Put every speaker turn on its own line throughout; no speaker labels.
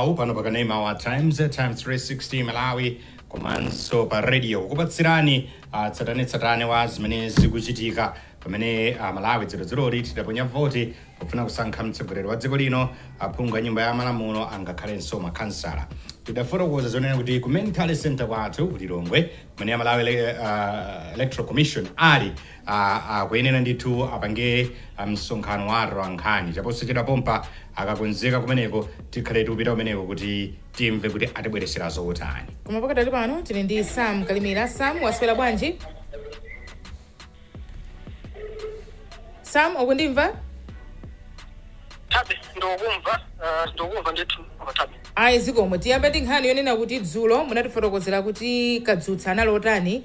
mawu pano pa kanema wa times times 360 malawi komanso pa radio kukupatsirani ah, tsatanetsatane wa zimene zikuchitika pamene ah, malawi dzulodzuloli tidaponya voti pofuna kusankha mtsogoleri wa dziko lino aphungu a nyumba ya malamulo angakhalenso makhansala tidafotokoza zonena kuti ku main tally center kwathu ku lilongwe kumene a malawi ele- ah, electoral commission ali a akuyenera ndithu apange ah, msonkhano wa atolankhani chaposachedwa pompa akakonzeka kumeneko tikhale tikupita kumeneko kuti timve kuti atibweretsera zotani koma pakadali pano
tili ndi sam kalimira sam waswera bwanji sam
ukundimva tabe ndikukumva uh, ndikukumva ndithu koma tabe ayi zikomo tiyambe
ndi nkhani yonena kuti dzulo munatifotokozera kuti kadzutsa anali otani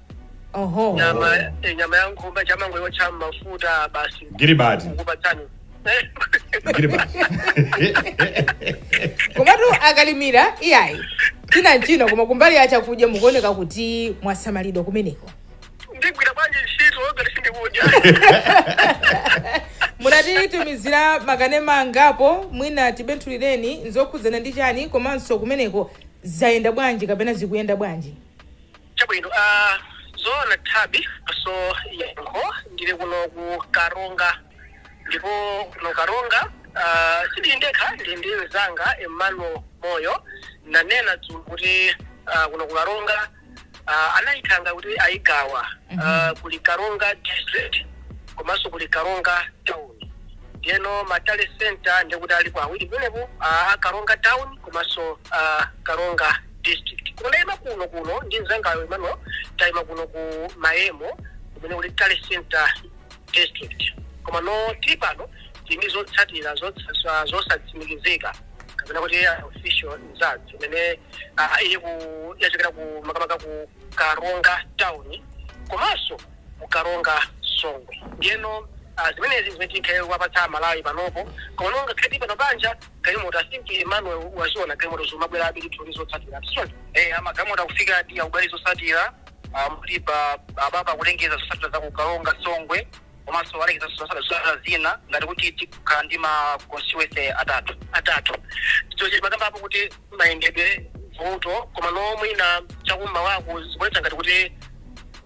oho
nyama eh,
nyama ya ng'ombe chang'ombe yocha mafuta basi Gilibati.
kukupatsani Eh,
Gilibati. komatu akalimira iyayi tili nchino koma kumbali ya chakudya mukuoneka kuti mwasamalidwa kumeneko ndigwira
bwanji ntchito ngati
sindikudya munatitumizira makanema angapo mwina tibenthulireni nzokhudzana ndi chani komanso kumeneko zayenda bwanji kapena zikuyenda bwanji
Chabwino a zoona Tabby komanso Yankho ndili kuno ku Karonga ndipo kuno Karonga a sindili ndekha ndili ndi mzanga Emmanuel Moyo nanena dzulo kuti a kuno ku Karonga a anayipanga kuti ayigawa a kuli Karonga district komanso kuli Karonga town ndiyeno ma tally center ndikuti alipo awiri kumeneko a Karonga town komanso a Karonga district koma ndaima kuno kuno ndi mzangayo Emmanuel taima kuno ku Maghemo kumene kuli Tally Center district koma no tili pano tili ndi zotsatira zotsa- zosatsimikizika kapena kuti unofficial results imene ah, ili ku yachokera ku makamaka ku Karonga town komanso ku Karonga Songwe ndiyeno ah, zimenezi zimene tikhale kuwapatsa aMalawi panopo koma no ngakhale tili pano panja galimoto i think emmanuel waziona galimoto zimabwerabe ndithu ndi zotsatira sichoncho eh magalimoto akufika adi akubwera zotsatira muli apapa akulengeza zotsatira za ku karonga songwe komanso alengeza zotsatira zotsatira zina ngati kuti tikhala ndi ma constituency atatu atatu chochi pakambapo kuti mayendedwe vuto koma nomwe ina chakummawako zikuonetsa ngati kuti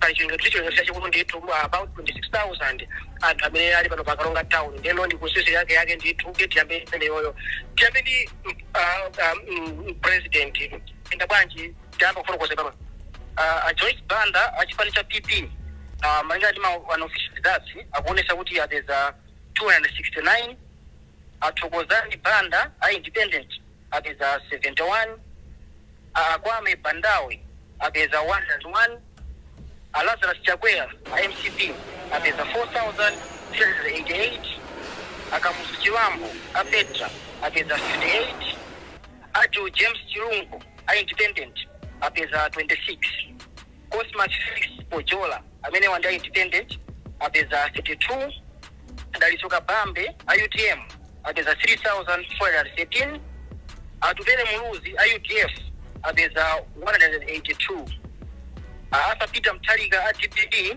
pali chiwerengero kuti chiwerengero chachikulu ndithu uh, about 26000 anthu amene ali pano pa karonga town ndeno ndi kusisi yake yake ndithu kuti tiyambe imeneyoyo tiyambe ndi mm, ah, ah, mm, president enda bwanji tiyamba kufotokoza pano Ah, a joyce banda a chipani cha pp ah, malinga ndi ma unofficial results akuonesa kuti apeza 269 a thokozani banda a independent apeza 71 Akwame Bandawe apeza 101, a Lazarus Chakwera a mcp apeza 4388, a Kamuzu Chibambo a Petra apeza 58, Adil James Chilungo a Independent apeza 26. Cosmas Felix Chipojola, amenewa ndi a independent apeza 32, Dalitso Kabambe a utm apeza 3413, Atupele Muluzi a udf apeza 182, a Arthur Peter Mutharika a dpp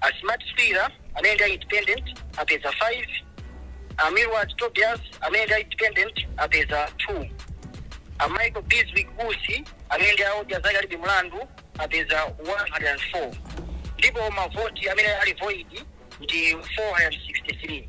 A Smart Swira amene ndi a independent apeza 5, a Milward Tobias amene ndi a independent apeza 2, a Michael Bizwick Usi amene ndi a odya zake alibe mlandu apeza 104 ndipo mavoti amene ali void ndi 463.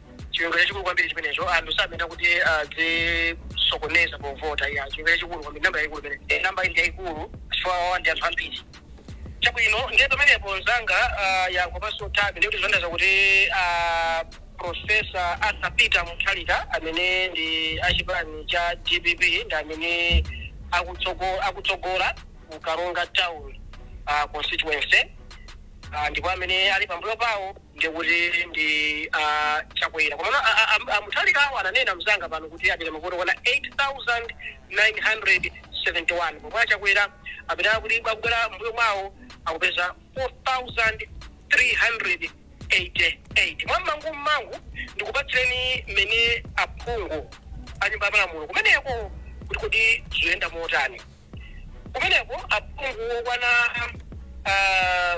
chiwerengero chachikulu kwambiri chimenecho anthu sayenera kuti azisokoneza povota ayi chiwerengero chachikulu kwambiri namba yayikulu imene Eh, namba ndi yayikulu chifukwa awa ndi anthu ambiri chabwino ndiye pamenepo nzanga ah, yankho panso tabi ndikuti zondaza kuti ah, profesa arthur peter mutharika amene ndi achipani cha dpp ndi amene akutsogo- akutsogola ku karonga town ah, constituency Ah, ndipo amene ali pambuyo pawo ndiye kuti ndi a chakwera komano a mutharikawo ananena mzanga pano kuti apeza mavoti okwana 8971 pomwe a chakwera apita kuti akubwera m'mbuyo mwawo akupeza 4388 mwammangu mmangu ndikupatsireni mmene aphungu a nyumba ya malamulo kumeneko kuti kodi zoyenda motani kumeneko aphungu okwana ah,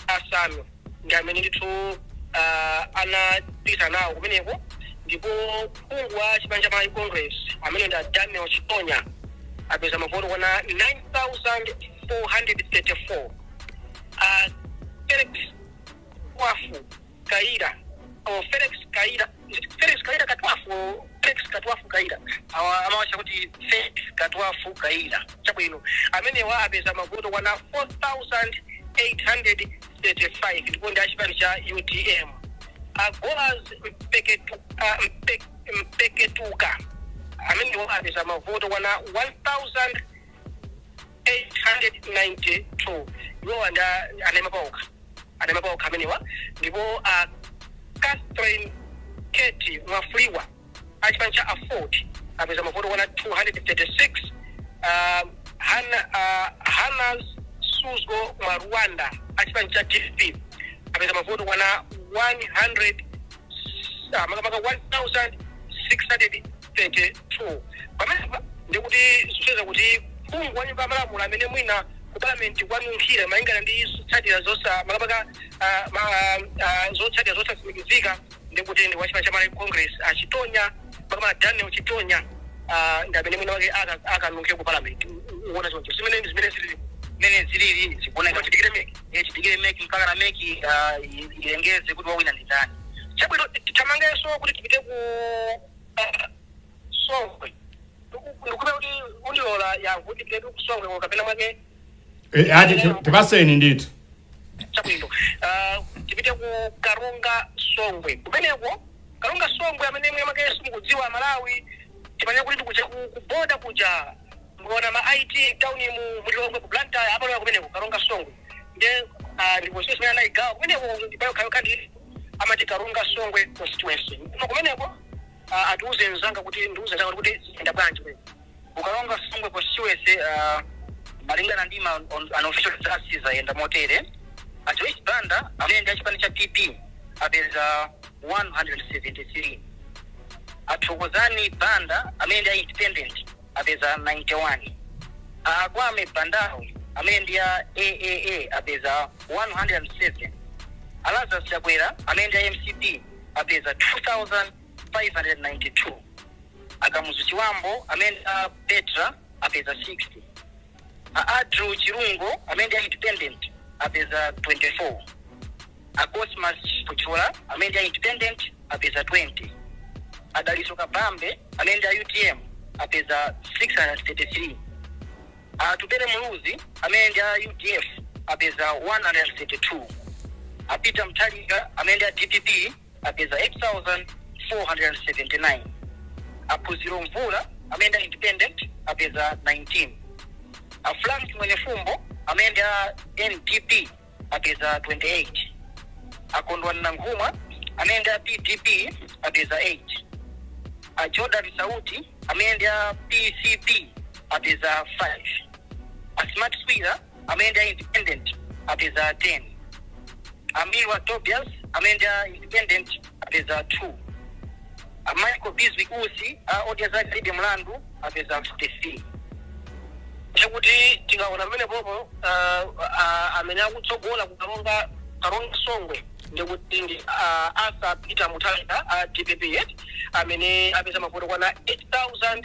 asanu ndi amene ndithu ah, anapita nawo kumeneko ndipo phungu wa chipani cha malawi congress amene ndi a daniel chitonya apeza mavoti okwana 9434 Ah, felix wafu Kayira or Felix Kayira Felix Kayira Katwafu or Felix Katwafu Kayira awa amawatcha kuti Felix Katwafu Kayira chabwino amenewa apeza mavoti okwana 4835 ndipo ndi achipani cha utm a golas mpeketu, ah, mpe, mpeketuka amenewa apeza mavoti okwana 1000 892 iwowa nda anaima paokha anaima paokha amenewa ndipo a catherine keti mwafulirwa a chipani cha aford apeza mavoti okwana 236 um, Hana, uh, hanas suzgo mwalwanda a chipani cha dpp apeza mavoti okwana 100 ah, makamaka 1600 32. Pamenepa ndiye kuti zikusonyeza kuti phungu wa nyumba ya malamulo amene mwina ku parliament kwanunkhira malingana ndi zotsatira zosa makamaka ah, ma- ah, ah, zotsatira zosatsimikizika ndi kuti ndi wa chipani cha malawi congress a chitonya makamaka daniel chitonya ah, ndi amene mwina mwake aka- akanunkhe ku parliament uona choncho zimene zimene zilili mene zilili zikuoneka kuti tidikire mec eh tidikire mec mpakana mec ah, i- ilengeze kuti wawina ndi ndani chabwino tithamangenso kuti tipite ku songwe ndikhulupirira kuti undilola yankho kuti tipite kusongwe ko kapena mwake Eh, ati ti-
tipatseni ndithu chabwino
Ah, tipite ku karonga songwe kumeneko karonga songwe amene mwina mwake simukudziwa amalawi tipanira kuti ndikuja ku ku boda kuja Mukaona ma IT town mu mu Lilongwe ku Blantyre amalowa kumeneko Karonga Songwe nde ah, ndi constituency imene anaigawa kumeneko ndi pa yokha yokha ndi amati Karonga Songwe constituency koma kumeneko ah, atiuze nzanga kuti ndiuze nzanga kuti zayenda bwanji kumeneko ku Karonga songwe constituency uh, malingana ndi ma un- unofficial results zayenda motere a joyce banda amene ndi achipani cha pp apeza 173 a thokozani banda amene ndi a independent apeza 91, a Kwame Bandawe amene ndi a AAA apeza 107, a Lazarus Chakwera amene ndi a mcp apeza 2592, a Kamuzu Chibambo amene ndi a Petra apeza 60. A Adil Chilungo amene ndi a independent apeza 24. A Cosmas Chipojola amene ndi a independent apeza 20. A Dalitso Kabambe amene ndi a utm apeza 633. A Atupele Muluzi amene ndi a udf apeza 132. A Peter Mutharika amene ndi a dpp apeza 8,479 a phunziro mvula amene ndi independent apeza 19 a frank mwenifumbo amene ndi a ndp apeza 28 a kondwani nankhumwa amene ndi a pdp apeza 8 a jordan sauti amene ndi a pcp apeza 5 a smart swira amene ndi a independent apeza 10 a Milward Tobias amene ndi a independent apeza 2 a michael bizwick usi a odya zake alibe mlandu apeza 43 chakuti tikaona pamenepopo ah, ah, amene akutsogola kukaronga karonga songwe ndikuti ndi ah, Arthur peter mutharika a dpp yet amene apeza mavoti okwana 8000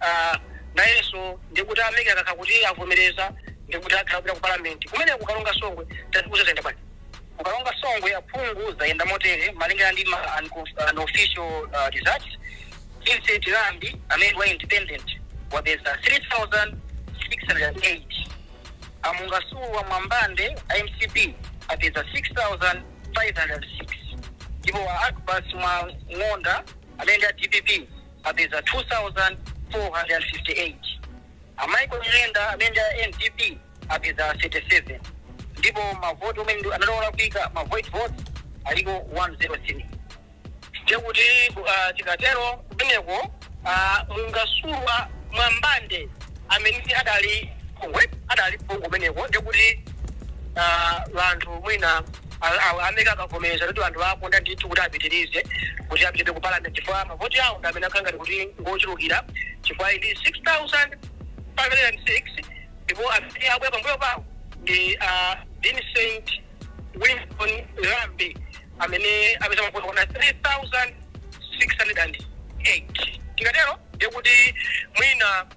Ah, nayenso ndikuti a MEC akakhala kuti avomereza ndikuti akhala akupita ku parliament kumeneko kukaronga songwe tatiuza zayenda bwanji kukaronga songwe aphungu zayenda motere malingana ndi ma- unco- unofficial uh, results vincent lambi amene wa independent wapeza 3608 a mungasulwa mwambande a mcp apeza 6506 ndipo a akbas mwang'onda amene ndi a dpp apeza 2,458, a Michael Nyirenda amene ndi a NDP apeza 37 ndipo mavoti amene ndi anali olakwika, ma void votes, aliko 103. Ndiye kuti ah, tikatero kumeneko ah, mungasulwa mwambande amene adali adali phungu kumeneko ndiye kuti ah, vanthu mwina a Mec akavomereza kuti vanthu akonda ndithu kuti apitirize kuti apite ku parliament chifukwa mavoti awo ndi amene akhala ngati kuti ngochulukira chifukwa ili 6506 ndipo amene abwera pambuyo pawo ndi a Vincent Winston Lambi amene apeza mavoti okwana 3608 tikatero ndikuti mwina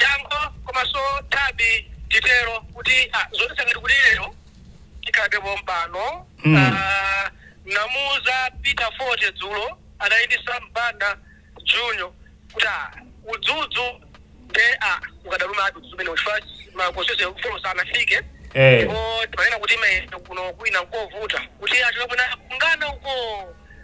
Yankho, Komaso Thabi titero kuti ah, zoti sangati kuti lero tikhalabe pompano Mm. Ah, namuuza peter fote dzulo anali ndi Sam Banda junior kuti ah, udzudzu nde ah, ukadaluma ati udzudzu umene ufa makosese folo sanafike Eh. ndipo timanena kuti mwina kuno kwina nkovuta kuti achokapona kungoona uko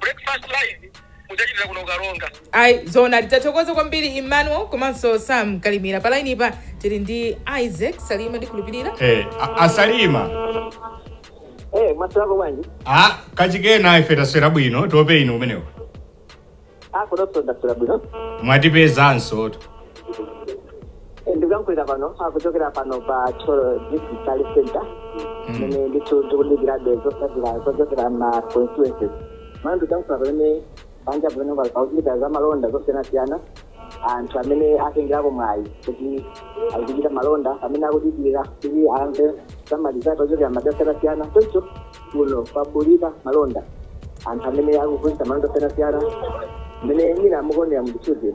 breakfast live mudzachitire kuno
karonga ayi zoona tathokoza kwambiri emmanuel komanso sam kalimira pa laini pa tili ndi isaac salima ndikhulupirira Eh, a- a
Salima Eh, mwaswerako bwanji?
kachikena ife taswera bwino tope inu kumeneko
Akonso kuno taswera bwino. mwatipezanso
to
ndikuyankhulira pano kuchokera pano pa thyolo district health center mene ndithu ndikudikirabe zotsatira zochokera ma constituencies pano ndikuyankhula pamene panja pamene pakuchitika za malonda zosiyanasiyana anthu amene atengerapo mwayi kuti akuchita malonda amene akudikira kuti amve zotsatira zochokera madera osiyanasiyana choncho kuno kwabulika malonda anthu amene akugulitsa malonda osiyanasiyana mene mwina mukuonera muzithunzi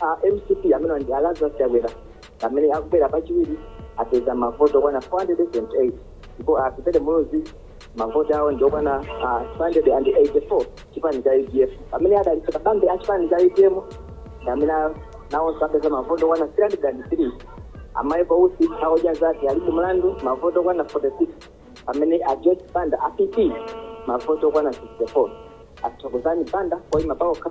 A mcp amenewa ndi a Lazarus Chakwera amene akubwera pachiwiri apeza mavoti okwana 428 ndipo a Atupele Muluzi mavoti awo ndi okwana ah, 284 chipani cha udf pamene a Dalitso Kabambe a chipani cha utm ndi amene a- nawonso apeza mavoti okwana 303 a Michael Usi a Odya zake alibe mlandu mavoti okwana 46 pamene a Joyce Banda a PP mavoti okwana 64 a Thokozani Banda oima paokha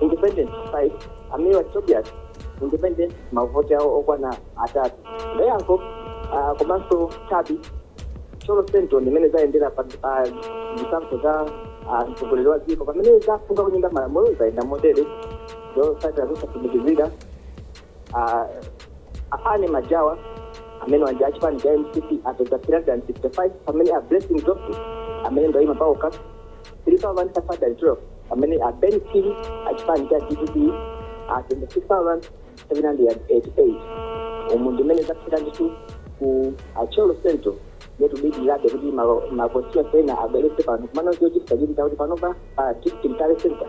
independent 5 a Milward Tobias independent mavoti awo okwana atatu ndayankho ah, komanso chabi Thyolo central ndi mmene zayendera pa pa zisankho za ah, mtsogoleri wa dziko pamene za aphungu a kunyumba ya malamulo zayenda motere zotsatira zosatsimikizika Ah, a Fanny Majawa amenewa ndi achipani cha mcp apeza 365 pamene a blessing johnson amene ndi oyima paokha 3512 pamene a Ben Phiri achipani cha dpp apeza 6788 umu ndi mmene zathera ndithu ku a Thyolo central ndiye tikudikirabe kuti malo- makonstituency ena abweretse pano komano chochititsa chidwi ndi chakuti panopa pa district tally center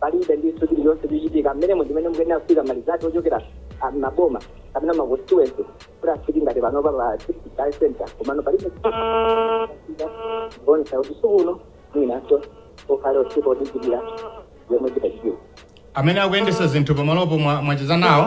palibe ndithu chilichonse chochitika mmenemo ndimene mukuyenera kufika ma result ochokera ah, maboma kapena ma constituency kuti afike ngati panopa pa district tally center komano palibe kuonetsa kuti usiku uno mwinanso ukhale usiku odikirira yomwe zitachitika amene akuyendetsa
zinthu pamalopo mwa- mwacheza nawo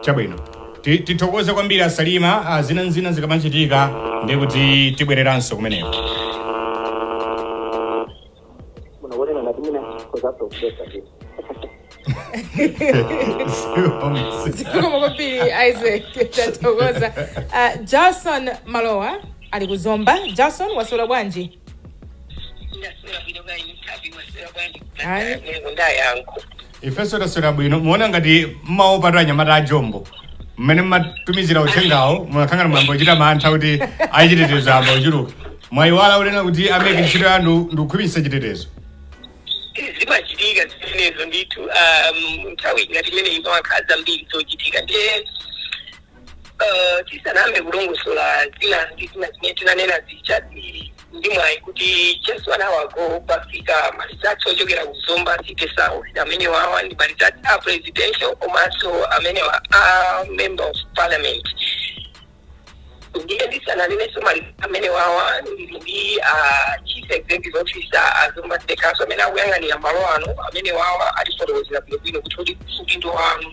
chabwino Ti- tithokoze kwambiri a Salima ah, zina nzina zikamachitika ndi kuti tibwereranso kumeneko
munaonana
na kumina kozaso kupesa tu zikomo kwambiri isaac tathokoza Ah, Jarson Malowa ali ku zomba Jarson waswera bwanji
ndaswera bwino bwanji mtabi waswera bwanji Ayi. ndayankho
ifenso taswera bwino muona ngati mmaopatu anyamata a jombo mmene mmatumizira uthengawo munakhala ngati mwayamba kuchita mantha kuti achitetezo ayamba kuchuluka mwayiwala kunena kuti amene ntchito yanu ndikukhwimitsa chitetezo
zimachitika zimenezo ndithu um, nthawi ngati imeneyi pamakhala zambiri zochitika ndiye tisanayambe kulongosola zina ndi zina zimene tinanena zija tili ndi mwayi kuti just 1 hour ago pafika ma results ochokera ku zomba city south amene wawa ndi ma results a presidential komanso amene wa a member of parliament ndiye ndisananenenso ma results amene wawa ndili ndi ah, chief executive officer a zomba city council amene akuyang'anira malo ano amene wawa atifotokozera bwinobwino kuti kuti udindo wanu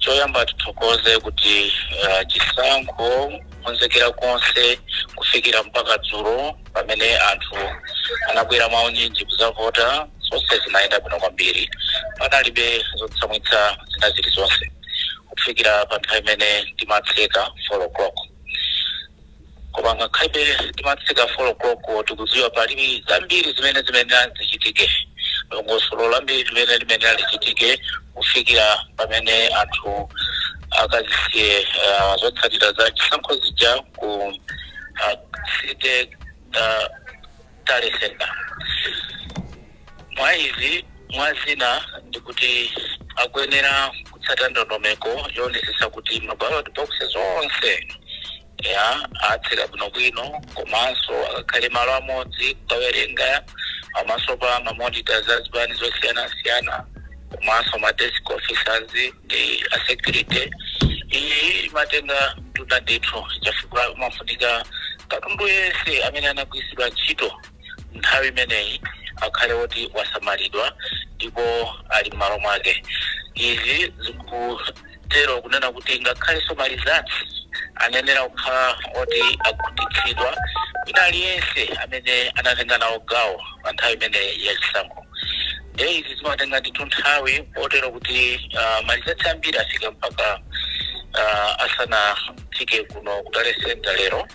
choyamba
tithokoze kuti uh, chisankho konzekera konse kufikira mpaka dzulo pamene anthu anabwera mwaunyinji kuzavota zonse zinayenda bwino kwambiri panalibe zotsamwitsa zina zilizonse kufikira pa nthawi imene timatseka 4 o'clock Koma ngakhalebe timatseka 4 o'clock tikudziwa pali zambiri zimene zimayenera zichitike dongosolo lambiri limene limayenera lichitike kufikira pamene anthu akazisiye ah, zotsatira za chisankho zija ku ah, city ah, tally center mwa izi mwa zina ndi kuti akuyenera kutsata ndondomeko yoonetsetsa kuti ma ballot boxes onse ya atseka bwinobwino komanso akakhale malo amodzi kukawerenga pamaso pa mamonita za zipani zosiyanasiyana komanso ma desk officers ndi a security iyi imatenga mtunda ndithu chifukwa amafunika katundu yense amene anagwiritsidwa ntchito nthawi imeneyi akhale woti wasamalidwa ndipo ali m'malo mwake izi ziku Tero kunena kuti ngakhalenso ma results anayenera kukhala oti akhutitsidwa wina aliyense amene anatenga nawo gawo pa nthawi imene ya chisankho nde izi zimatenga ndithu nthawi kotero kuti uh, ma results ambiri afika mpaka uh, asanafike kuno ku tally center lero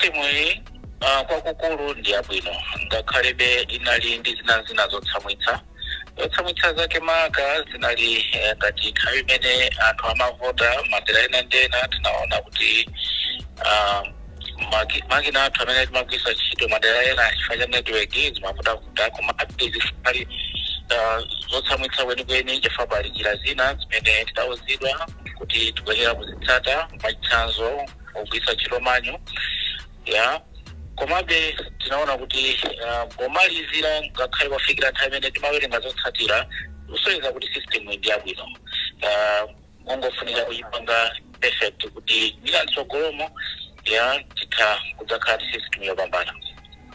Timuyi ah, kwakukulu ndi yabwino ngakhalebe inali ndi zina zina zotsamwitsa zotsamwitsa zake maka zinali eh, ngati nthawi imene anthu amavota madera ena ndi ena tinaona kuti ah, maki- makina athu amene timagwisa ntchito madera ena chifukwa cha network zimavutavuta komabe sizinali ah, zotsamwitsa kwenikweni chifukwa pali njira zina zimene tidauzidwa kuti tikuyenera kuzitsata mwachitsanzo kugwiritsa ntchito manual ya komabe tinaona kuti ah, pomalizira ngakhale kufikira nthawi imene timawerenga zotsatira kusonyeza kuti system ndi yabwino Ah, kungofunika kuyipanga perfect kuti mwina mtsogolomo ya titha kudzakhala ndi system yopambana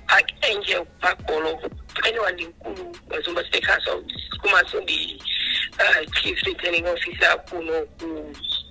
Archangel Bakolo ameneyo ndi mkulu wa Zomba City Council komanso ndi ah, chief returning officer kuno ku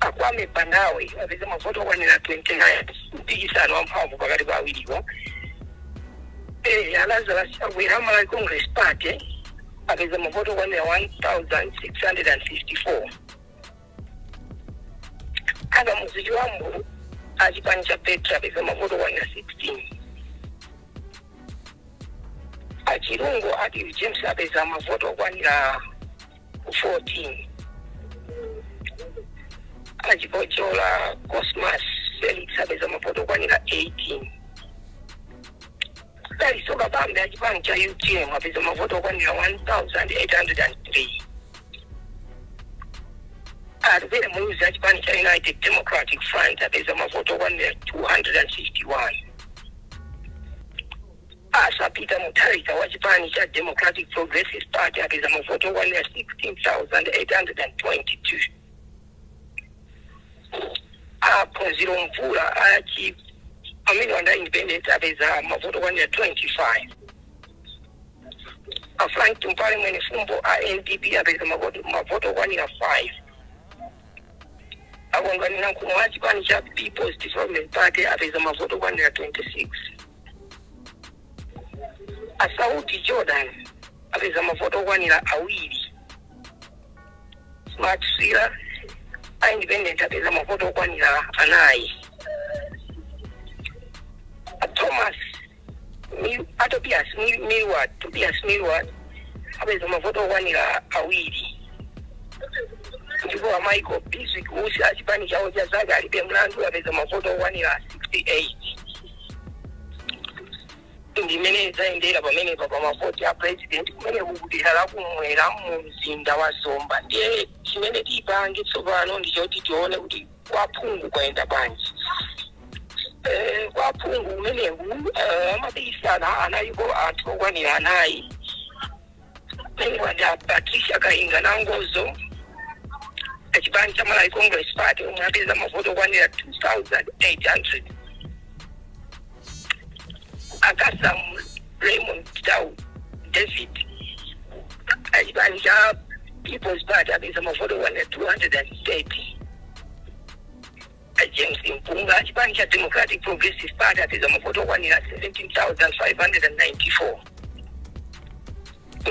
A Kwame Bandawe apeza mavoti okwanira 29 mpikisano wamphamvu pakati pa awiriwo. Eh, a Lazarus Chakwera a Malawi Congress Party apeza mavoti okwanira 1654. A Kamuzu Chibambo a chipani cha Petra apeza mavoti okwanira 16. a Chilungo Adil James apeza mavoti okwanira 14 a chipojola cosmas felix apeza mavoti okwanira 18 dalitso kabambe achipani cha utm apeza mavoti okwanira 1803 atupele muluzi achipani cha united democratic front apeza mavoti okwanira 251 Arthur Peter Mutharika wa chipani cha Democratic Progressive Party apeza mavoti okwanira 16,822. A Phunziro Mvula a chi amene wanda independent apeza mavoti okwanira 25. A Frank Tumpale Mwenifumbo a NDP apeza mavoti okwanira 5. A Kondwani Nankhumwa wa chipani cha People's Development Party apeza mavoti okwanira 26. a sauti jordan apeza mavoti okwanira awiri smart swira a independent apeza mavoti okwanira anayi a thomas Mi- a tobias Mi- milward tobias milward apeza mavoti okwanira awiri ndipo a michael bizwick usi a chipani cha odya zake alibe mlandu apeza mavoti okwanira 68 ndimene zayendera pamenepa pa mavoti a president kumeneku kudera lakumwera mu mzinda wa zomba ndiye chimene tipange tsopano ndichoti tione kuti kwaphungu kwayenda bwanji Eh, kwa phungu kumeneku eh, amapikisana analipo anthu okwanira anayi Mungwada Patricia Kainga Nangozo achipani cha Malawi Congress Party omwe apeza mavoti okwanira 2800 a Kasam Raymond Tau David achipani cha People's Party apeza mavoti okwanira 230 A James Mpunga achipani cha Democratic Progressive Party apeza mavoti okwanira 17,594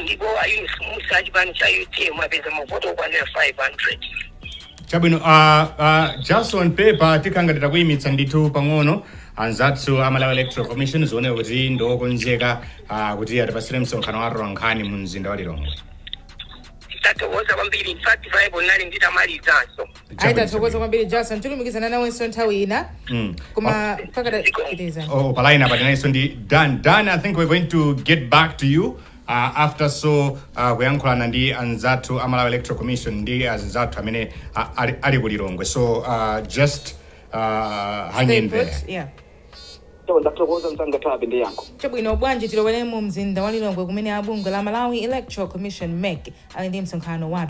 ndipo a Yunus Mussa achipani cha UTM apeza mavoti okwanira 500. chabwino
uh, uh, jason pepa tikhanga titakuyimitsa ndithu pang'ono anzathu a malawi electoral commission zioneka kuti ndiokonzeka uh, kuti atipasire msonkhano wa atolankhani mu mzinda wa lilongwe
Tathokoza kwambiri in fact ine nali nditamalizanso. ayi
tathokoza kwambiri jason tilumikizana nawenso nthawi ina Mm. koma pakadalipano Oh, pa line apa
tinalinso ndi Dan. Dan, I think we're going to get back to you uh, after so uh, kuyankhulana ndi anzathu a Malawi Electoral Commission ndi anzathu amene uh, ali, ali ku Lilongwe. So uh, just uh, hang Stay in put, there. yeah. so ndathokoza
Nsangathabe ndi Yankho chabwino bwanji tilowere
mu mzinda wa lilongwe kumene abungwe la malawi electoral commission mec ali ndi msonkhano wathu